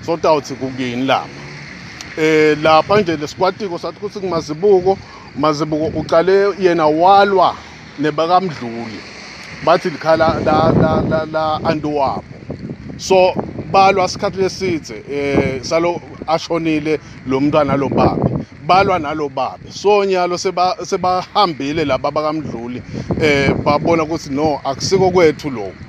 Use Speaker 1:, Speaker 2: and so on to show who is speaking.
Speaker 1: sotawuthi kukini lapha eh lapha nje lesikwatiko sathi ukuthi kumazibuko mazibuko uqale yena walwa nebakamdluli bathi likhala la la la, la antiwabo so balwa isikhathi lesithe eh salo ashonile lo mntwana lo baba balwa nalo baba so nyalo seba sebahambile laba bakamdluli eh babona ukuthi no akusiko kwethu lokho